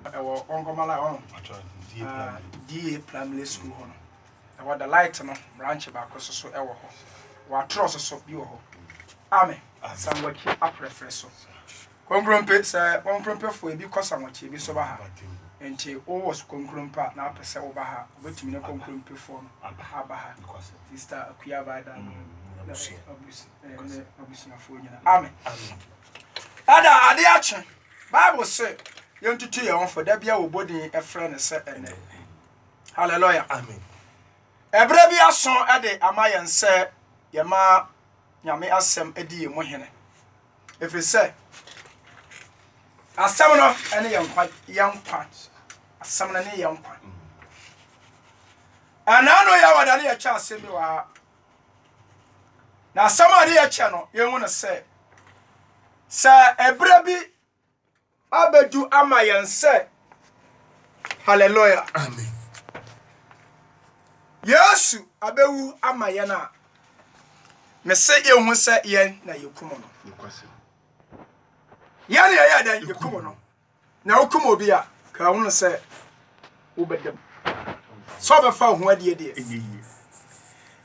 ɛwɔ ɔnkɔmala hɔ no da primary school hɔ no ɛwɔ the light no branch baako so so ɛwɔ hɔ wɔatorɔ so so bi wɔ hɔ ame sanwakyi afrɛfrɛ so konkrompe sɛ konkrompefoɔ ebi kɔ sanwakyi ebi so ba ha nti wowɔ so konkrompe a na apɛ sɛ woba ha wobɛtumi ne konkrompefoɔ no aba ha sister akua baada no abusuafoɔ nyina ame ɛda ade akye Bible se yɛntutu yɛn ho fo, da bia wɔbɔ din frɛ no sɛ ɛnɛ. Hallelujah. Amen. Ɛberɛ bi aso de ama yɛn sɛ yɛma Nyame asɛm di yɛn mu hene. Ɛfiri sɛ, asɛm no ne yɛn nkwa, yɛn nkwa. Asɛm no ne yɛn nkwa. Ɛnaa no yɛ wɔda ne yɛkyɛ asɛm bi wɔ ha. Na asɛm a ɛyɛ kyɛ no, yɛhu no sɛ, sɛ ɛberɛ bi abɛdu ama yɛn sɛ, hallelujah, amen, Yesu abɛwu ama yɛn a, mese yɛhu sɛ yɛn na yɛkum no. Yɛn na yɛyɛ dɛn? Yɛkum no. Na wokum obi a, ka hu no sɛ wobɛda mu. Sɛ ɔbɛfa wo ho adeɛ deɛ, ɛnyɛ yie.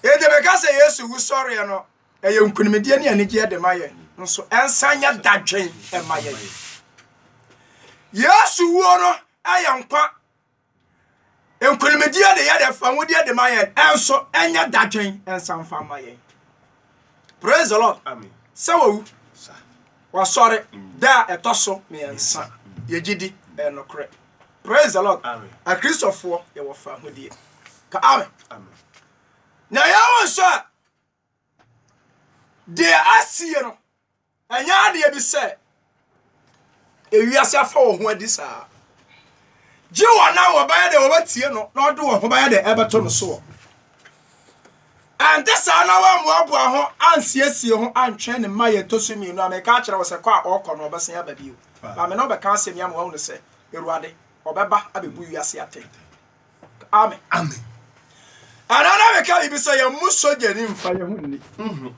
Enti meka sɛ Yesu wusɔreɛ no, ɛyɛ nkunimdie ne anigyeɛ de ma yɛn, nso ɛnsan nyɛ dadwen ɛma yɛn. Yesu wuo no yɛ nkwa Nkonimdie a ne yɛ dɛ fa wodeɛ de ma yɛn nso ɛnyɛ dadwen nsa mfa ma yɛn. Praise the Lord. Amen. Sɛ wawu, wasɔre da a ɛtɔ so mmiɛnsa. Yɛgye di ɛyɛ nokorɛ. Praise the Lord. Amen. Akristofoɔ yɛwɔ fahodie. Ka amen. Amen. Na yɛwɔ nso a Deɛ asie no, ɛnyɛ adeɛ bi sɛ ewiase afa wɔn ho adi saa. Gye wɔn a wɔbɛyɛ deɛ wɔbɛtie no na wɔde wɔn ho bɛyɛ deɛ ɛbɛto no soɔ. Ɛnte saa na wɔammoaboa ho ansiesie ho antwɛn ne mma yɛ ɛtɔ so mmienu a meka akyerɛ wo sɛ kɔ a ɔrekɔ no ɔbɛsan aba bio. Maame no ɔbɛka asɛm yi ama wɔahunu sɛ Awurade ɔbɛba abɛbu wiase atɛn. Amen. Amen. Ɛna na meka biribi sɛ yɛn mu sogyani mfa yɛn ho nni. Mhm.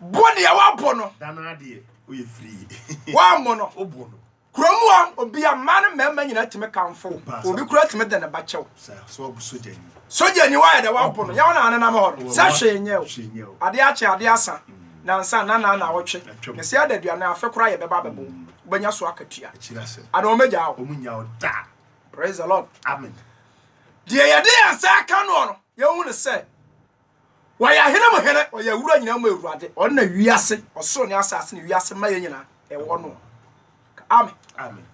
Bo nea wabɔ no. Dana adeɛ oyɛ firii. Wambo no. Obo no. Kurom a obi a mmaa ne mmarima nyinaa tumi kamfo. Obi kura tumi de ne ba kyɛw. Sɛ wabu sogyani. Sogyani wayɛ dɛ wabɔ no. Yɛn na anenam hɔ no. Sɛ hwee nyɛ o. Adeɛ akye adeɛ asa. Mm. Nansa na na na ɔtwe. Ne sɛ adaduane afe kora yɛ bɛba bɛbɔ. Mm. Wobɛnya so akatua. Akyiri ase. Ana wɔn agya o. Wɔn nya o da. Praise the Lord. Amen. Deɛ yɛde yɛn nsa aka noɔ no, yɛhu no sɛ wɔyɛ ahene mu hene, wɔyɛ awura nyinaa mu awurade. Ɔno na wiase, ɔsoro ne asase ne wiase mma yɛ nyinaa ɛwɔ no. Amen. Amen.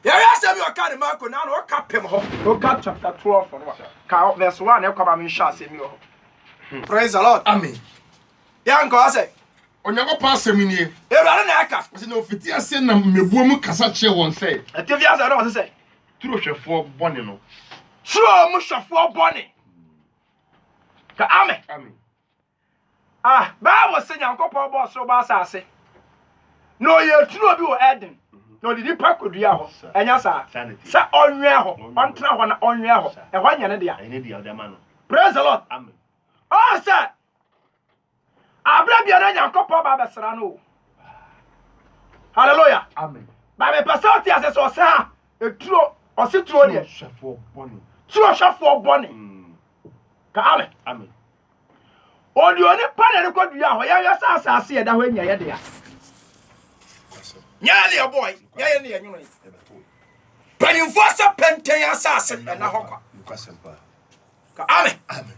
yɛyɛ asɛm yɛ ɔka ne marko na na ɔka pem hɔ ɔka chapter 12 no ka verse 1 na ɛkɔ ba menhwɛ asɛm yɛ hɔ hmm. praise the lord amen Yɛnkɔ ase. Onyankopɔn asɛm nie. Awurade na ɛka. Ɔsɛ na ofiti ase nam mmɛbuo mu kasa kyerɛ wɔn sɛ. Ɛte fi ase na ɔse sɛ. Turo hwɛfoɔ bɔne no. Turo mu hwɛfoɔ bɔne. Ka ame. Ame. Ah, Bible se Nyankopɔn bɔɔ soro bɔɔ asase. Na ɔyɛɛ turo bi wɔ Eden. Na ɔde nipa kɔduaa hɔ. Ɛnyɛ saa? Sɛ ɔnwɛn hɔ, ɔntena hɔ na ɔnwɛn hɔ. Ɛhɔ nyɛ ne dea. Praise the Lord. Amen. Ɔn sɛ Aberɛ biara Nyankopɔn ba bɛsra no o. Hallelujah. Amen. Ba mepɛ sɛ ɔte ase sɛ ɔsɛ ha eturo ɔse turo deɛ. Turo hwɛfoɔ bɔne. Mm. Ka amen. Amen. Ɔde onipa na ɛde kɔ dua hɔ yɛhwɛ sɛ asase ɛda hɔ nyɛ yɛ dea. Nyɛ yɛ ne ɛbɔe, nyɛ yɛ ne ɛnwono yi. Panyinfoɔ sɛ pɛntɛn asase ɛna hɔ kwa. Ka amen. Amen.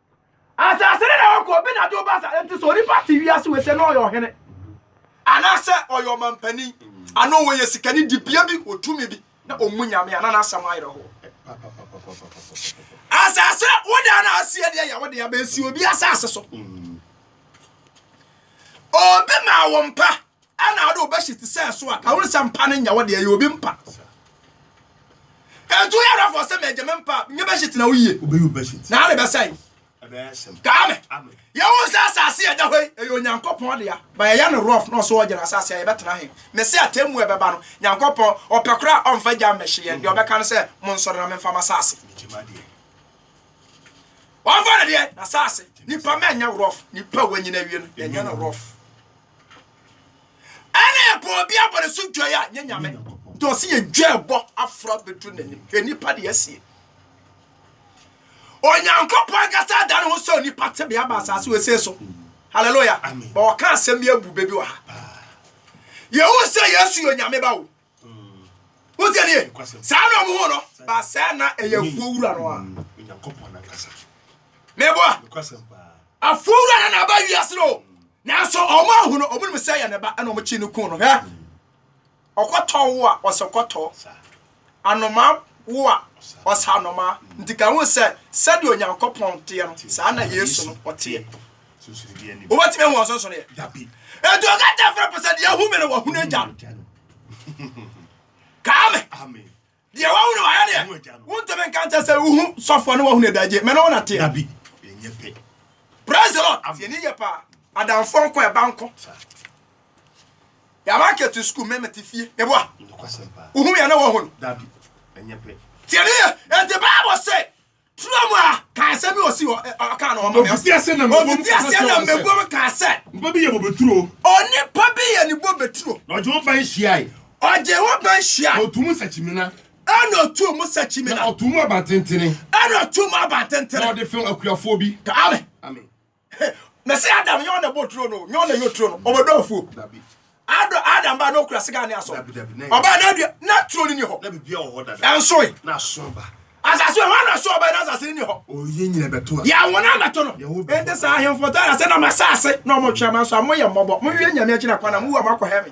Asase no na ɔkɔ, obi na de wo ba sa. Nti sɛ onipa te wiase wei sɛ na ɔyɛ ɔhene. Anaasɛ ɔyɛ ɔmampanin, anaa ɔyɛ sikani, dibea bi, otumi bi, na ɔmmu Nyame a, na n'asɛm ayerɛ ho. Asase, wo dan na asi ɛdeɛ yɛ wo dea, bɛnsi obi asase so. Obi ma wo mpa. Ɛna ɔde wo bɛhyɛ ti sɛ so a ka wone sɛ mpa no nyɛ wo deɛ yɛ obi mpa ɛntu yɛ rɔfɔ sɛ mɛgye me mpa nyɛ bɛhyɛ ti na woyie na ade bɛsɛe kaa me yɛ wo sɛ asase yɛ da hɔ yi ɛyɛ onyankopɔn dea ba yɛyɛ no rɔf na ɔso ɔgyina asase a yɛbɛtena he me sɛ atɛmmu ɛbɛba no nyankopɔn ɔpɛ kora a ɔmfa gya mmɛhye yɛn deɛ ɔbɛka no sɛ mo nsɔre na memfa ma asase ɔmfa no deɛ na asase nipa mɛnyɛ rɔf nipa wanyina wie no yɛnyɛ no rɔf ɛna yɛbɔ obi abɔne so dwa a nyɛ nyame nti ɔse yɛdwa ɛbɔ afra bɛduru n'anim hwɛ nipa deɛ asie onyankopɔn ankasa ada ne ho sɛ onipa tebea ba asase wɔsee so halleluya ma wɔka asɛm bi abu bɛbi wɔ ha yɛhu sɛ yesu yɛ onyame ba wo wotie ne ye saa na ɔmo ho no ba sɛ na ɛyɛ afuo wura no a meboa afuo wura no na aba wiase no nanso ɔmo ahu no ɔmo nim sɛ yɛ ne ba ɛna ɔmo kyi no kun no hɛ ɔkɔtɔ wo a ɔsɛ kɔtɔ anoma wo a ɔsɛ anoma nti ka ho sɛ sɛdeɛ onyankopɔn teɛ no saa na yesu no ɔteɛ wobɛtumi ahu ɔsonsoneɛ ɛnti ɔka kyɛ frɛ pɛ sɛ deɛ ahu me no wahunu agya no kaa me deɛ wahu no wayɛ deɛ wontumi nka nkyɛ sɛ wohu sɔfoɔ ne wahunu adagye mɛ na wonateɛ praise the lord tiɛni yɛ paa adamfoɔ nkɔ ɛba nkɔ yàrá kẹtù sukùl mẹmẹtì fie ẹbọ a ohun yẹn náà wọ hàn tiẹni yẹ ẹtì báàbò sẹ Twerɛ mu a, ka asɛm bi ɔsi hɔ ɔka no ɔma me ɔsi aseɛ na mɛbɔ mu ka sɛ nipa bi yɛ bobeturo onipa bi yɛ ne bobeturo na ɔgye wo ban hyiae ɔgye wo ban hyiae ɔtu mu sakyimina ɛna ɔtu mu sakyimina na ɔtu mu abantentene ɛna ɔtu mu abantentene na ɔde fɛn akuafoɔ bi ka ame ame mɛsɛ adam nyɛ ɔna bɔ turo no nyɛ ɔna yɛ turo no ɔbɛdɔ afuo adɔ adam ba na ɔkura sika ne asɔ ɔbaa na adua na turo no ni hɔ ɛnsoe asase hɔ ana so ɔbaa na asase no ni hɔ yɛawo no abɛto no ɛnti saa ahemfo tɔ na sɛ na mo asase na ɔmotwea ma nso a moyɛ mmɔbɔ mowie nyame agyina kwana mowu a moakɔhɛ me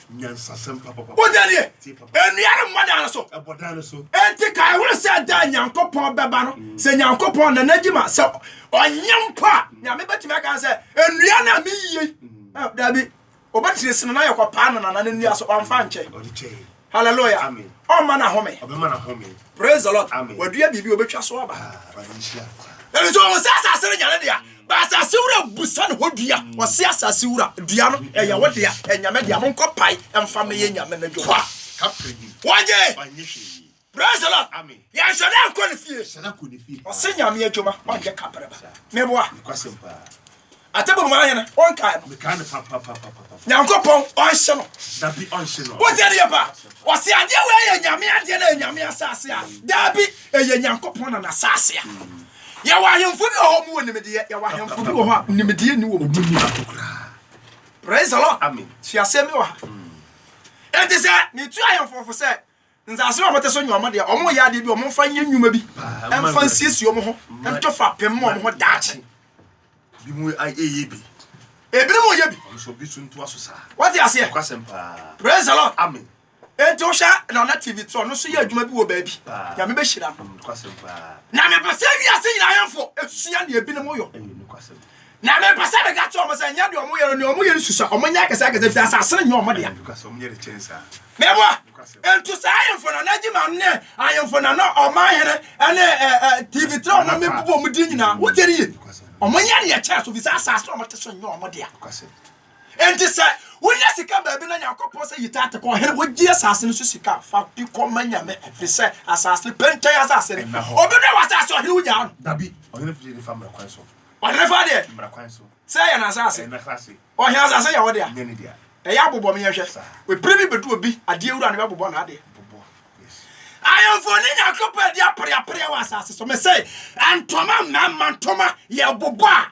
Nyansasɛm pa papa. Wode adeɛ? Tie papa. Nnua no mmɔ dan no so. Ɛbɔ dan no so. Enti kae hunu sɛ da a Nyankopɔn bɛba no, mm. sɛ Nyankopɔn na n'adwuma sɛ ɔnyɛ mpo a, mm. Nyame bɛtumi aka sɛ, nnua no a meyie. Mm. Eh, dabi, ɔbɛtiri sini na yɛkɔpaa no nana no nnua so, ɔmfa nkyɛ. Hallelujah. Amen. Ɔmma no ahome. Ɔbɛma no ahome. Praise the Lord. Amen. Wadua biribi, ɔbɛtwa so aba. Ah, Ɛno nso ɔmo sɛ asase no nyane dea. Ba asase wura busa ne hɔ dua, ɔse asase wura, dua no, ɛyɛ wo dea, ɛyɛ Nyame dea, monkɔ pae mfa mɛyɛ Nyame no dwuma. Wɔgye! Praise the Lord! Yɛnhwɛ dɛ nkɔ ne fie. Ɔse Nyame adwuma, ɔnyɛ kaprɛba. Meboa? Atebom ahene, wonkae no? Nyankopɔn, ɔnhye no. Wotie ne yɛ paa? Ɔse adeɛ wei yɛ Nyame adeɛ na ɛyɛ Nyame asase a, daabi, ɛyɛ Nyankopɔn na n'asase a. Yɛwɔ ahemfo bi wɔ hɔ mu wɔ nimdeɛ. Yɛwɔ ahemfo bi wɔ hɔ a nimdeɛ ni wɔ mu. Wɔn ni baako koraa. Praise the Lord. Amen. Sua asɛm bi wɔ ha. Mm. Enti sɛ metu ahemfo fo sɛ nsaase a wɔte so nyɛ wɔn deɛ, wɔn yɛ adeɛ bi, wɔn mfa nyɛ nnwuma bi, mfa nsiesie wɔn ho, mfa fa pɛm wɔn ho daakye. Bi mu ayɛ bi. Ebinom yɛ bi. Wɔn nso bi so ntoa so saa. Wɔte aseɛ. Kwasɛm paa. Praise the Lord. Amen. Enti wo hwɛ Nana TV trɔ no so yɛ adwuma bi wɔ baabi Nyame bɛ hyira no Na me pɛ sɛ wiase nyina ahemfo sua deɛ ebi no mo yɔ Na me pɛ sɛ me ka kyerɛ ɔmo sɛ nyɛ deɛ ɔmo yɛ no deɛ ɔmo yɛ no susua ɔmo nyɛ akɛse akɛse fi asase no nyɛ ɔmo dea Me boa Enti saa ahemfo Nana Gyima no ne ahemfo Nana ɔman hene ɛne eh, eh, TV trɔ no me bobɔ ɔmo din nyina wo tie no yie ɔmo nyɛ deɛ kyɛɛ so fi sɛ asase ɔmo te so nyɛ ɔmo dea Enti sɛ wonya sika baabi na Nyankopɔn sɛ yi tate kɔ ɔhene, wogye asase no so sika fa de kɔ ma Nyame ɛfiri sɛ asase no pɛntɛn asase ne. Obi brɛ w'asase ɔhene wogyaa no? Dabi, ɔhene firi de fa mmara kwan so. Ɔhene fa deɛ? Mmara kwan so. Sɛ ɛyɛ n'asase? Ɛyɛ n'asase. Ɔhene asase yɛ wo dea? Nyɛ ne dea. Ɛyɛ abobɔ me yɛnhwɛ. Saa. Ɛberɛ bi bɛdu obi adeɛ wura no bɛbobɔ n'adeɛ. Bobɔ, yes. Ayɔnfoɔ ne Nyankopɔn adi apereapereɛ wɔ asase so. Mese, ntoma, mmarima ntoma, yɛbobɔ a,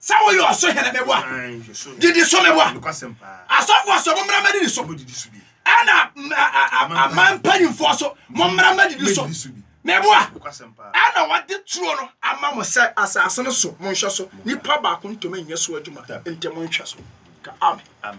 Sɛ woyɛ ɔsohene meboa, didi so meboa. Asɔfoɔ so mommra mɛdidi so, ɛna aman mpanyinfoɔ so mommra mɛdidi so meboa. Ɛna wɔde turo no ama mo sɛ asase no so monhwɛ so, nipa baako ntumi nyɛ so adwuma, nti monhwɛ so. Ka amen.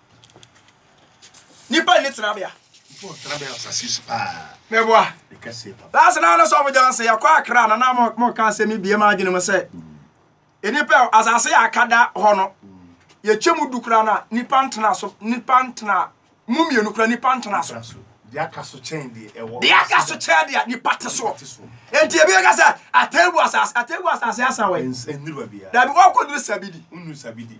nipa nni tenabea meboa last na no sɔfo gyan sɛ yɛkɔ akra na na mɔka asɛm yi bie ma adwene mu sɛ nnipa asase yɛ akada hɔ no yɛkyɛ mu du kora no a nipa ntena so nipa ntena mu mmienu kora nipa ntena so deɛ aka so kyɛn deɛ nipa te so enti ebi ka sɛ atɛgu asase atɛgu asase asa wɔ dabi wɔkɔduru sabidi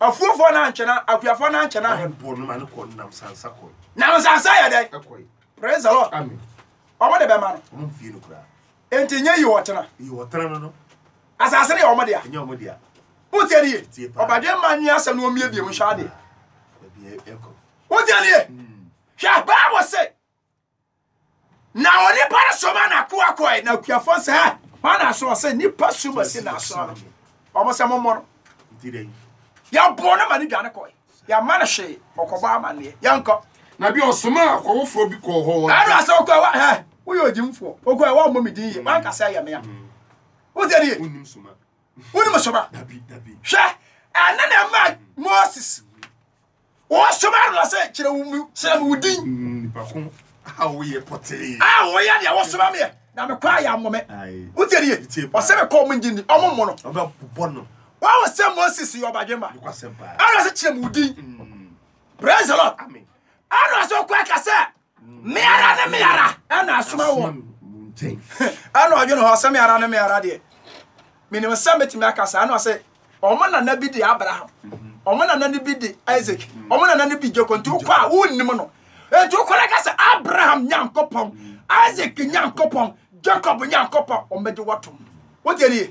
Afuofoɔ no ankyɛ na akuafoɔ no ankyɛ na. Ɔmo bɔ no ma no kɔ nam sansa kɔ. Nam nsansa yɛ dɛn? Ɛkɔe. Praise the Lord. Amen. Ɔmo de bɛma no. Ɔmo mfie no koraa. Enti nyɛ yi ɔtena. Yi ɔtena no no. Asase no yɛ ɔmo dea. Ɛnyɛ ɔmo dea. Wotie ni ye. Tie paa. Ɔbadwe mma nwi asɛm no ɔmmie biem nhwɛ adeɛ. Ɛbi ɛkɔ. Wotie ni ye. Hwɛ Bible se Na onipa no soma n'akoa kɔe, na akuafoɔ no sɛ, Hɛ, hwan na aso? Ɔsɛ, Nnipa su ma si n'aso no. Wɔn sɛ, Mommɔ no. Yɛbɔɔ no ma no dwane kɔe. Yɛamma no hwee, ɔkɔbɔ amanneɛ. Yɛnkɔ. Na bi ɔsomaa akɔwofoɔ bi kɔɔ hɔ. Ɛno asɛ ɔkɔɛ wa, hɛ, woyɛ ogyimfoɔ. Ɔkɔɛ wa mmɔ me din yie, wanka sɛ ɛyɛ me a. Wote nie? Wonim soma. Wonim soma. Hwɛ, ɛno na ɛma Moses. Wɔasoma Aaron na sɛ, Kyerɛ wo mu, kyerɛ me wo din. Nipa ko a woyɛ pɔtee. A woyɛ deɛ wɔsoma meɛ, na me kɔ a yɛammɔ me. Wotie nie? Ɔsɛ me kɔ, ɔmo ngye nni, ɔmo mmo no. Ɔbɛbobɔ no. Wɔahu sɛ Moses yɛ ɔbadwemma. Aaron sɛ, Kyerɛ me wo din. Praise the Lord. Aaron sɛ ɔkɔ akasɛ. me ara ne me ara ɛna asoma wɔ ɛna ɔdwene hɔ sɛ me ara ne me ara deɛ menim sɛ mɛtumi aka saa na ɔsɛ ɔmo nana bi de abraham ɔmo nana no bi de isaac ɔmo nana no bi jacob nti wokɔ a wonnim no nti wokɔ no ka sɛ abraham nyankopɔn isaac nyankopɔn jacob nyankopɔn ɔmɛgye wɔtom wotiɛnie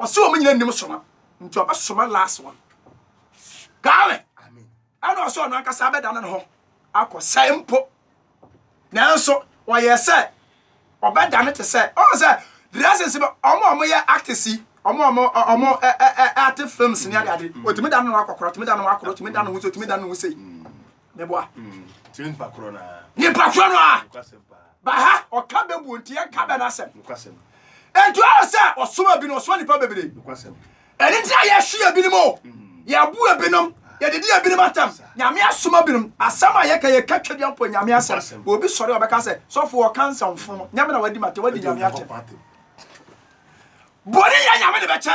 Ɔse ɔmo nyina nim soma nti ɔbɛsoma last one Gale ɛna ɔse ɔno ankasa abɛda ne ho akɔ sɛe mpo nanso ɔyɛ sɛ ɔbɛda ne te sɛ ɔn sɛ dresses no ɔmo ɔmo yɛ actors yi ɔmo ɔmo ɔmo ɛte films ne ade ade ɔtumi da ne ho akɔkora ɔtumi da ne ho akora ɔtumi da ne ho sɛ ɔtumi da ne ho sɛ meboa mm, kyerɛ nipa korɔ no a nipa korɔ no a ba ha ɔka bɛbuo nti yɛnka bɛ no asɛm ɛnti ɔyɛ sɛ ɔsoma bi no ɔsoma nipa bebree ɛne nti a yɛhwe ebinom o mm. yɛabu ebinom yɛdedi ebinom atam nyame asoma binom asɛm a yɛka yɛka twa dua mpo nyame asɛm obi sɔre a ɔbɛka sɛ sɔfo ɔka nsɛmfo no nyame na wadi mate wadi nyame akyɛ bɔne yɛ nyame de bɛkyɛ